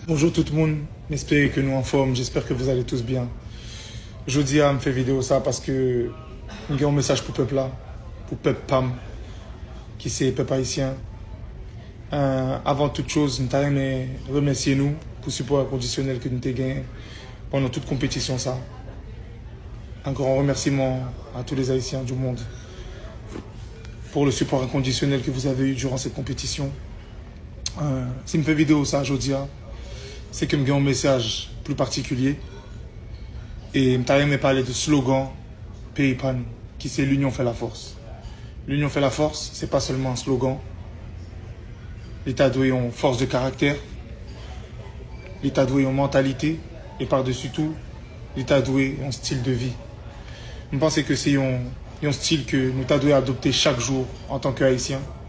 Bonjour tout moun m espere ke nou anfòm j'espère que vous allez tous bien jodi a m fè video sa paske m gen yon mesaj pou pèp la pou pèp pam ki se pèp ayisyen avan tout choz m ta renmen remèsye nou pou sipò enkondisyonèl ke nou te genyen pandan tout konpetisyon sa un grand remerciement à tous les Haïtiens du monde pour le support inconditionnel que vous avez eu durant cette compétition. Si m fè videyo sa jodi a, se ke m gen yon mesaj pli patikilye. E m ta renmen pale de slogan peyi pa nou, ki se L'union fait la force. L'union fait la force, se pa sèlman yon slogan. Li ta dwe yon fòs de karaktè. Li ta dwe yon mantalite. E pa desi tou, li ta dwe yon stil de vi. M panse ke se yon stil ke nou ta dwe adopte chak jou an tan ke Ayisyen.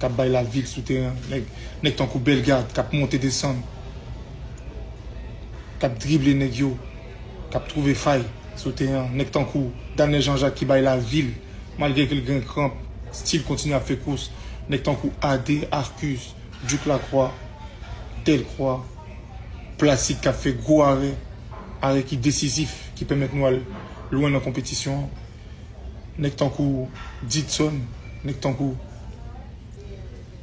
Kap bay la vil sou teren an nèg tankou Bellegarde kap monte desann kap drible nèg yo kap trouve fay sou teren an nèg tankou Danel Jean Jacques ki bay la vil malgre ke l gen kranp stil kontinye ap fè kous nèg tankou AD, Arcus, Duc Lacroix, Delcroix, Placide kap fè gwo arè arè ki desizif ki pèmèt nou al lwen nan konpetisyon an. Nèg tankou Didson, nèg tankou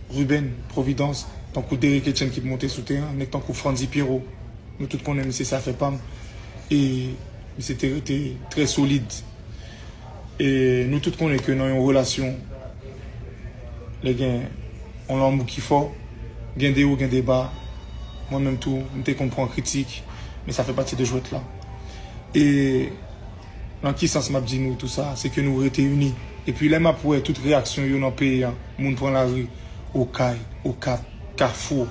Ruben Providence, tankou Derrick Etienne ki pou monte sou teren an, nèg tankou Frantzy Pierrot, nou tout konnen misye se afè pa m e misye te rete trè solid. E nou tout konnen ke nan yon relasyon, lè gen yon lanmou ki fò, gen de wo, gen de ba, mwen menm tou m te konn pran kritik, men sa fè pati de jwèt la. E. Nan ki sans map di nou tou sa, se ke nou rete ini. Epi lè map wè tout reyaksyon yo nan peyi an, moun pran lari, Okay, Okap, Kafou,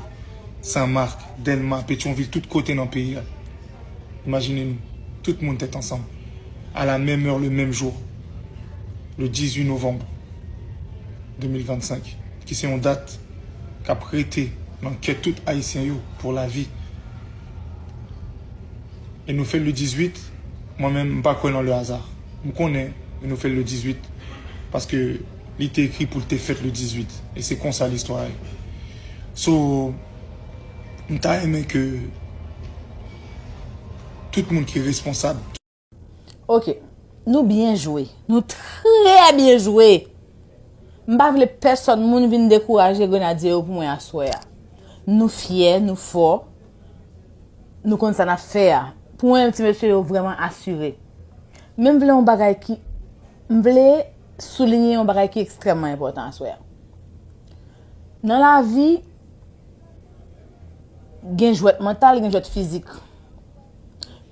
San Marc, Delma, Petyonvil tout kote nan peyi a. Imajine nou, tout moun tèt ansanm, a la menm èr le menm jou, le 18 novanm 2025, ki se yon dat kap rete nan kè tout Ayisyen yo pou lavi. E nou fèl le 18. Mwen menm, m pa kwè nan le hasard. M konnen yo nou fè l le 18 paske li te ekri pou l te fèt le 18 e se konsa listwa a ye. So, m ta renmen ke tout moun ki responsab. Ok, nou byen jwe. Nou trè byen jwe! M pa vle pèsòn moun vin dekouraje Grenadye yo pou mwen aswè a. Nou fyè, nou fò, Nou konn sa nap fè a. Pou en ti mesye yo vreman asire. Men m vle yon bagay ki M vle soulinye yon bagay ki ekstrèmman enpòtan aswè a. Nan lavi, gen jwèt mantal, gen jwèt fizik.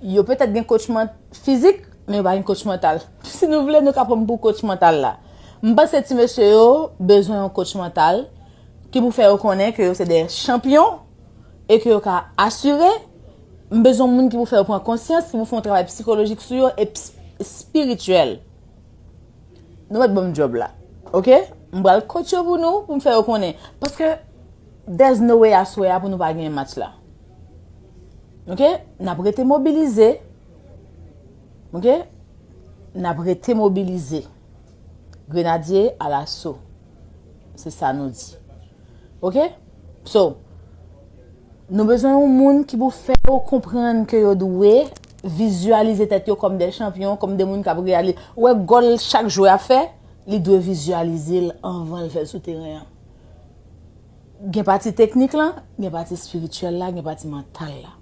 Yo petèt gen kotch man fizik, men yo pa gen kotch mantal. Si nou vle, nou ka pran m pou kotch mantal la. M panse ti mesye yo bezwen yon kotch mantal ki pou fè yo konnen ke yo se de chanpyon. e ke yo ka asire, m bezwen moun ki pou fè yo pran konsyans, ki pou fè yon travay psikolojik sou yo e spirityèl. Nou mèt banm djòb la. Ok? M bral kòt yo pou nou, pou m fè yo konnen. Paske, there's no way aswè a pou nou pa genyen match la. Ok? N ap rete mobilize. Ok? N ap rete mobilize. Grenadye alaso se sa nou di ok so nou bezwen yon moun ki pou fè yo konprann ke yo dwe vizyalize tèt yo kòm de chanpyon kòm de moun kap reyali wè gòl chak jwè ap fè li dwe vizyalize l anvan l fè l sou teren an gen pati teknik lan gen pati espirityèl la gen pati mantal la.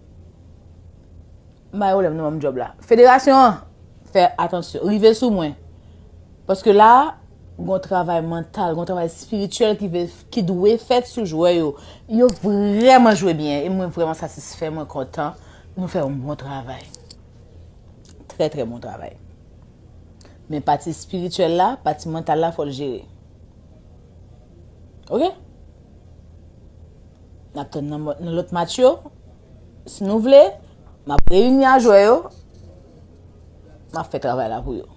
Mare w lè m nan banm job la. Federasyon an fè atansyon, rive sou mwen. Paske la a, gon travay mantal, gon travay espirityèl ki dwe fèt sou jwè yo. Yo vrèman jwe byen e mwen vrèman satisfè, mwen kontan. Nou fè yon bon travay. Trè trè bon travay. Men pati espirityèl la, pati mantal la fò l jere. Ok? N ap tann nan lòt match yo. Si nou vle, m ap reyini a jwè yo, m ap fè travay la pou yo.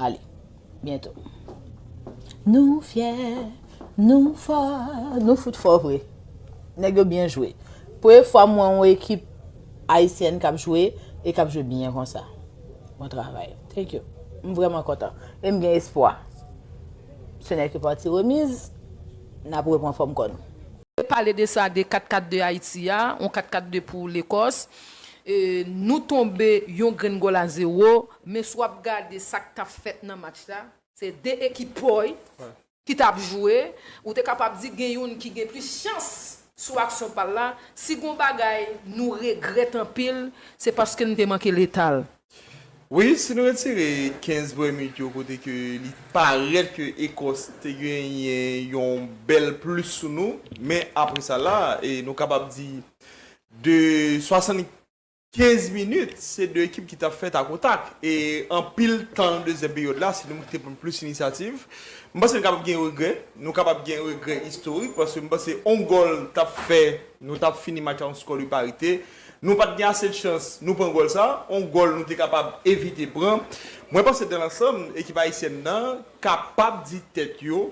Ale, byento. Nou fyè, nou fò, nou fout fò vre. Nèg yo byen jwe. Premye fwa m wè yon ekip Ayisyèn k ap jwe e k ap jwe byen konsa. Bon travay. Thank you. M vrèman kontan. E m gen espwa. Se nè ke pati remiz, n ap repran fòm kò nou. Te pale de sa de 4 4 2 Ayiti a, yon 4 4 2 pou Lekòs. Nou tonbe yon grenn gòl a zewo, men si w ap gade sa k t ap fèt nan match la, se 2 ekip pòy ki t ap jwe. Ou te kapab di gen youn ki gen plis chans sou aksyon pa l la. Si gon bagay nou regrèt anpil, se paske n te manke letal. Wi, si nou retire 15 premye minit yo kote ke li parèt ke Ekòs te genyen yon bèl plis sou nou, men apre sa la, e nou kapab di de 75 minit, se 2 ekip ki t ap fè takotak. E anpil tan nan dezyèm peryòd la, se nou menm ki te pran plis inisyativ. M panse nou kapab gen regrè, nou kapab gen regrè istorik paske m panse yon gòl t ap fè nou t ap fini match la yon skò de parite. Nou pat gen ase chans nou pran gòl sa, yon gòl nou te kapab evite pran. Mwen panse dan lansanm ekip ayisyèn nan kapab di tèt yo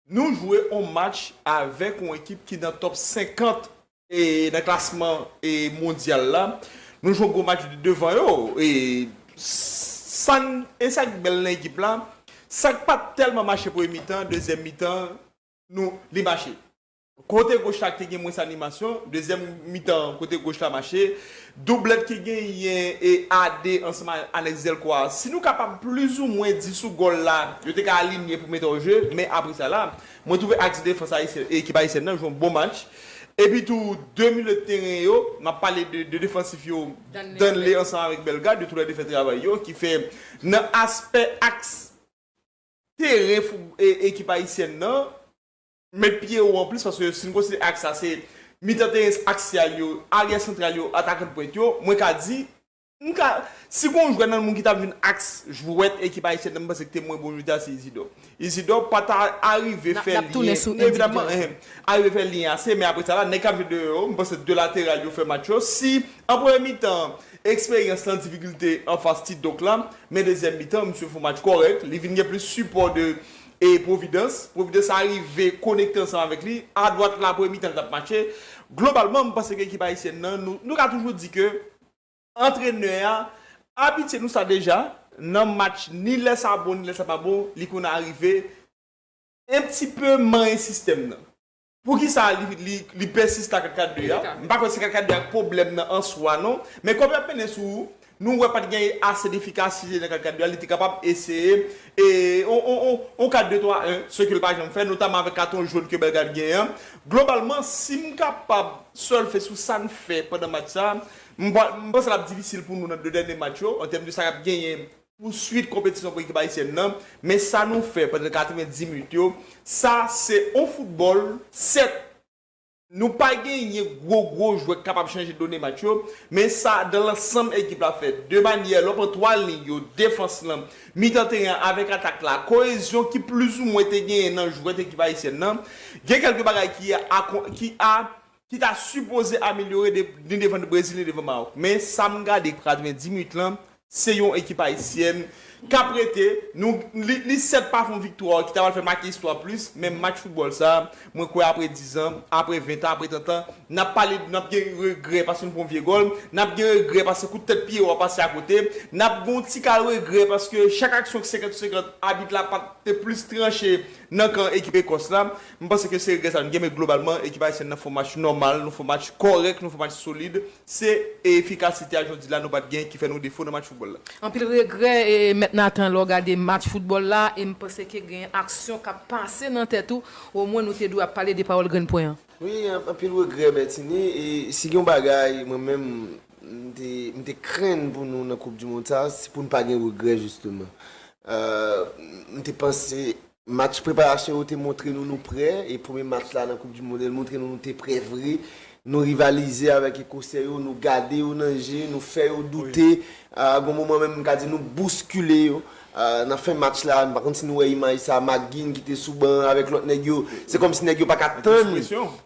nou jwe yon match avèk yon ekip ki nan top 50 nan klasman mondyal la, nou jwe yon gwo match devan yo e san e sak bèl nan ekip la sak pat tèlman mache premye mitan, dezyèm mitan nou li mache. Kote goch la te gen mwens animasyon, dezyèm mitan kote goch la mache, doublèt ki genyen e AD ansanm ak Alex Delcroix a, si nou kapab plizoumwen di sou gòl la, yo te ka alinye pou mete an je, men apre sa la, mwen twouve aks defans ayisyen, ekip ayisyèn nan jwe yon bon match, epi tou 2 milye teren yo, m ap pale de 2 defansif yo, Danley ansanm avèk Bellegarde, yo tou lè 2 fè travay yo, ki fè nan aspè aks teren fout ekip ayisyèn nan, Met pye wo anplis paske si n konsidere aks la se mitan teren aksyal yo, aryè santral yo, atakan pwent yo, mwen ka di, m ka, si gon jwè nan moun ki ta vin aks jwèt ekip ayisyèn nan m panse ki te mwen bon jodi a se Izidò. Izidò pa ta arive fè lyen, ni evidaman, ehe, arive fè lyen ase men apre sa la nèg k ap jwe deyò yo, m panse 2 lateral yo fè match yo, si an premye mitan an eksperyans lan difikilte anfas ti Doc la, men dezyèm mitan an misye fon match kòrèk, li vin gen plis sipò de E Pwovidans? Pwovidans a rive konekte ansanm avèk li. Adwat la premye mitan l t ap mache. Globalman m panse ke ekip ayisyèn nan nou nou ka toujou di ke antrenè a abitye nou sa deja nan match ni lè sa bon ni lè sa pa bon li konn arive enptipe manyen sistèm nan. Poukisa li pèsiste ak 4-4-2 a? M pa kwè se 4-4-2 a k pwoblèm nan an swa non. Men kòm y ap mennen sou, nou wè pa t gen ase defikasite nan 4-4-2 a, li te kapab eseye yon 4-2-3-1, se ke l pa janm fè, notamman avèk katon jòn ke Bellegarde genyen an. Globalman, si m kapab sèlfe sou sa n fè pandan match sa, m panse l ap difisil pou nou nan 2 dènye match yo, an tèm de sa k ap genyen Pou swit konpetisyon pou ekip ayisyèn nan, men sa nou fè pandan 90 minit yo, sa se on foutbòl, sèt nou pa genyen gwo gwo jwè k kapab chanje done match yo, men sa dan lansanm ekip la fè de manyè lò pran 3 liy yo, defans lan, mitan teren an avèk atak la, koyezyon ki plizoumwen te genyen nan jwèt ekip ayisyèn nan, gen kèlke bagay ki a ki ta sipoze amelyore ni devan Brezil ni devan Maròk men sa m gade ki pral tounen 10 minit lan se yon ekip ayisyèn k ap rete nou li sèt pa fè yon viktwa ki ta pral fè make istwa plis men match foutbòl sa mwen kwè apre dizan apre ventan apre tantan n ap pale n ap gen regrè paske nou pran yon vye gòl n ap gen regrè paske kout tèt pye yo ap pase akote n ap gen yon ti kal regrè paske chak aksyon ki senkant sou senkant abit la pa t te plis tranche nan kan ekip Ekòs la. M panse ke se regrè sa nou gen men globalman ekip Ayisyèn nan fè yon match nòmal, nou fè yon match kòrèk, nou fè yon match solid. Se efikasite a jodi la nou pat gen ki fè nou defo nan match foutbòl la. Anpil regrè Mèt Nathan lè w gade match foutbòl la e m panse ke gen aksyon k ap pase nan tèt ou omwen nou te dwe ap pale de pawòl grenn pwen an. Wi anpil regrè Bertinie e si gen yon bagay mwen menm m te krenn pou nou nan koup du mond sa se pou n pa gen regrè jisteman. M te panse Match preparasyon yo te montre nou nou prè e premye match la nan koup du monde montre nou nou te prè vre. Nou rivalize avèk ekosè yo, nou gade yo nan je, nou fè yo doute, gon moman menm m ka di nou bouskile yo nan fen match la, m pa konn si nou wè imaj sa McGinn ki te sou ban avèk lòt nèg yo, se kòmsi nèg yo pa ka tann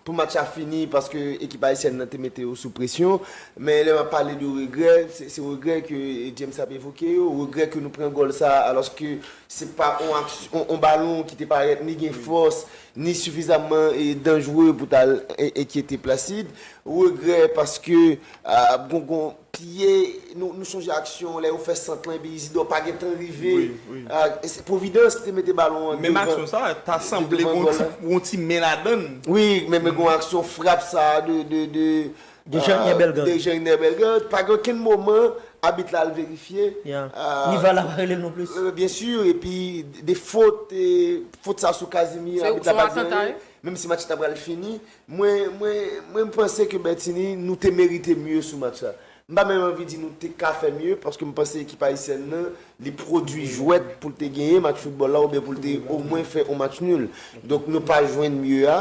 pou match la fini paske ekip ayisyèn nan te mete yo sou presyon. Men lè m ap pale de regrè, se regrè ke James ap evoke yo, regrè ke nou pran gòl sa alòske Se pa yon balon ki te parèt ni gen fòs, ni sifizamman danjre pou ta al enkyete Placide. Regrè paske gongon piye, nou sonje aksyon lè yo fè sant lan epi Izidò pa gen tan rive. Se pwovidans ki te mete balon an devan gòl la. Menm aksyon sa a, ta sanble gon ti men ladan l. Wi, men gon aksyon frap sa a de Dejeyner Bellegarde pa gen okenn moman abit la al verifye. Ni var la pa rele l non plis. Byen sur e pi de fot fot sa sou Casimir abit la pa di anyen. Menm si match la ta pral fini. Mwen mwen panse ke Bertinie nou te merite mye sou match la. M pa menm anvi di nou te ka fè mye paske m panse ekip ayisyèn nan li pwodui jwèt pou l te genyen match foutbòl la oubyen pou l te omwen fè on match nul. Donk nou pa jwenn mye a.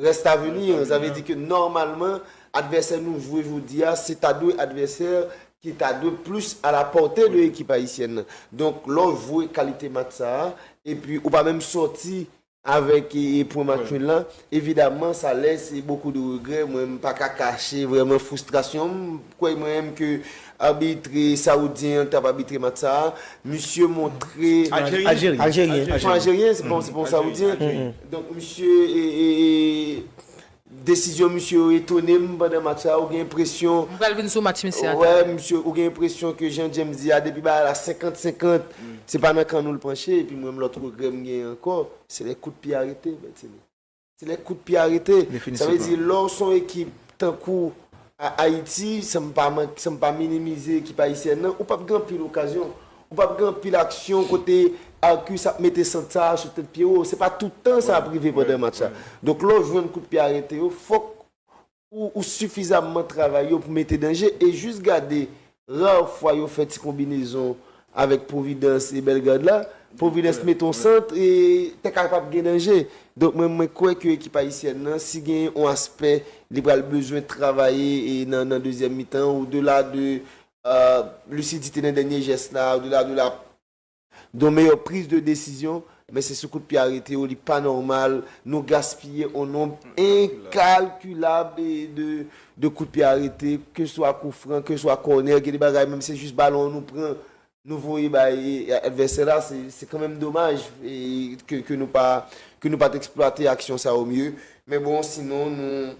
Rest a venir, sa vle di ke nòmalman advèsè nou jwe jodi a se ta dwe advèsè ki ta dwe plis a la pòte de ekip ayisyèn nan. Donk lè w jwe kalite match sa a epi ou pa menm sòti avèk pwen match nul la, evidaman sa lèse bokou de regrè, mwen m pa ka kache vrèman fwistrasyon m. Kwè mwen ke arbitre saoudien an tap arbitre match sa a, misye montre. Aljeryen. Aljeryen. Son aljeryen, se pa yon saoudien. Donk misye desizyon misye yo etone m pandan match sa a, ou gen enpresyon. M pral vin sou match misye a talè. Wè misye, ou gen enpresyon ke jan James di a depi bagay la 50 50, se pa nan kan nou l panche epi mwen m lòt regrè m gen ankò, se lè kout pye arete Bertinie. Se lè kout pye a rete. Sa vle di lè w se yon ekip tankou Ayiti, san m pa minimize ekip ayisyèn nan, ou pap gen anpil okazyon. Ou pap gen anpil aksyon kote Arcus ap mete sant sa a sou tèt pye ou. Se pa tout tan sa ap rive pandan match la. Donk lè w jwenn kout pye a rete yo, fòk ou sifizamman travay yo pou mete danje e jis gade rare fwa yo fè ti konbinezon avèk Providence e Bellegarde la, Providence mete yon sant e te kapab gen danje. Donk mwen mwen kwè ke ekip ayisyèn nan si gen yon aspè li pral bezwen travaye nan dezyèm mitan an odela de lisidite nan dènye jès la, odela de la Don meyò priz de desizyon men se sou kout pye arete yo li pa nòmal nou gaspiye on nonb enkalkilab de kout pye arete ke swa kou fran ke swa kònè gen de bagay menm se jis balon an nou pran nou voye bay advèsè la se kanmenm domaj ke nou pa ke nou pat eksplwate aksyon sa yo mye men bon sinon nou.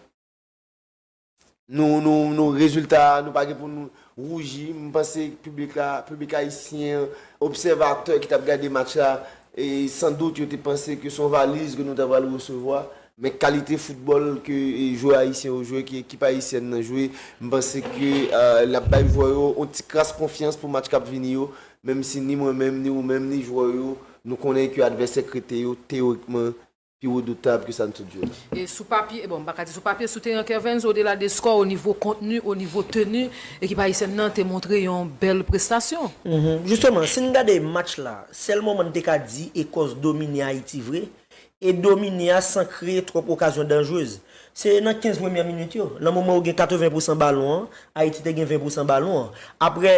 Nou nou nou rezilta a nou pa gen pou nou rouji m panse piblik la piblik ayisyen an obsèvatè ki t ap gade match la e san dout yo te panse ke se yon valiz ke nou ta pral resevwa men kalite foutbòl ke jwè ayisyen yo jwe ke ekip ayisyèn nan jwe m panse ke l ap bay jwè yo yon ti kras konfyans pou match k ap vini yo menm si ni mwen menm ni ou menm ni jwè yo nou konnen ke advèsè k rete yo teyorikman pi redoutab ke sa n tout di w la. E sou papye, bon m pa ka di sou papye, sou teren Kervens odela de skò onivo kontni, onivo teni, ekip ayisyèn nan te montre yon bèl prestasyon. Jisteman, si n gade match la, sèl moman n te ka di Ekòs domine Ayiti vre, e domine a san kreye twòp okazyon danjrez, se nan 15 premyè minit yo, nan moman ou gen 80 pousan balon an, Ayiti te gen 20 pousan balon an. Aprè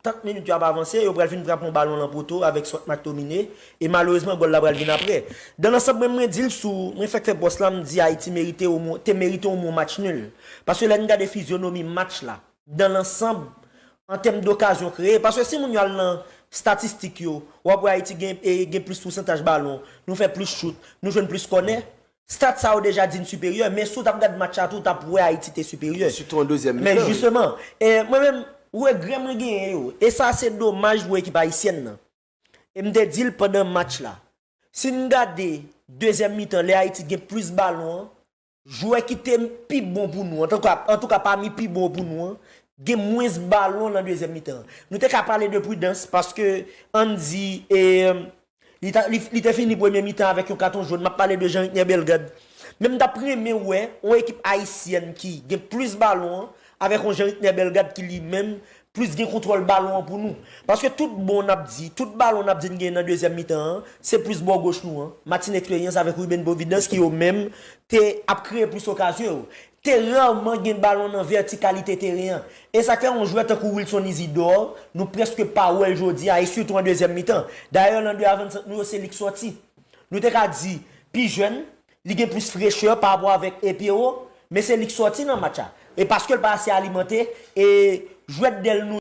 Tank minit yo ap avanse, yo pral fin frape yon balon lan poto avèk Swart McTominay, e malerezman gòl la pral vin aprè. Dan lansanm mwen, mwen di l sou, mwen fèk fè pòs la, m di Ayiti merite omwen, te merite omwen yon match nul. Paske lè n gade fizyonomi match la, dan lansanm, an tèm dokazyon kreye, paske si moun yo al nan statistik yo, w ap wè Ayiti gen, gen plis pousantaj balon, nou fè plis chout, nou jwenn plis kònè, Stat sa ou deja di n siperyè, men si w t ap gad match la tou w t ap wè Ayiti te siperyè. Sitou an dezyèm mitan. Men jisteman, e mwen menm, regrè mwen genyen yo, e sa se domaj pou ekip ayisyèn nan, e m te di l pandan match la, si n gade dezyèm mitan lè Ayiti t gen plis balon an, jwè ki te pi bon pou nou, antouka pami pi bon pou nou an, gen mwens balon nan dezyèm mitan an. Nou te ka pale de pridans paske an n di e Li te fini premye mitan avèk yon katon jòn, m ap pale de Jean Ritner Bellegarde. Men m t ap renmen wè yon ekip ayisyèn ki gen plis balon an avèk yon Jean Ritner Bellegarde ki li menm plis gen kontwòl balon an pou nou. Paske tout bon n ap di, tout balon n ap di n genyen nan dezyèm mitan an, se plis bò goch nou an, Martin Expérience avèk Ruben Providence ki yo menm te ap kreye plis okazyon yo. te rarman gen balon nan vètikalite teren an, e sa k fè yon jwè tankou Wilson Isidore, nou prèske pa wè l jodi a, e sitou an dezyèm mitan. Dayè, nan 2 avansant nou yo, se li k sòti. Nou te ka di, pi jèn, li gen plis frechè parapò avèk e Pierrot, men se li k sòti nan match la. E paske l pa ase alimante, e jwèt dèl nou.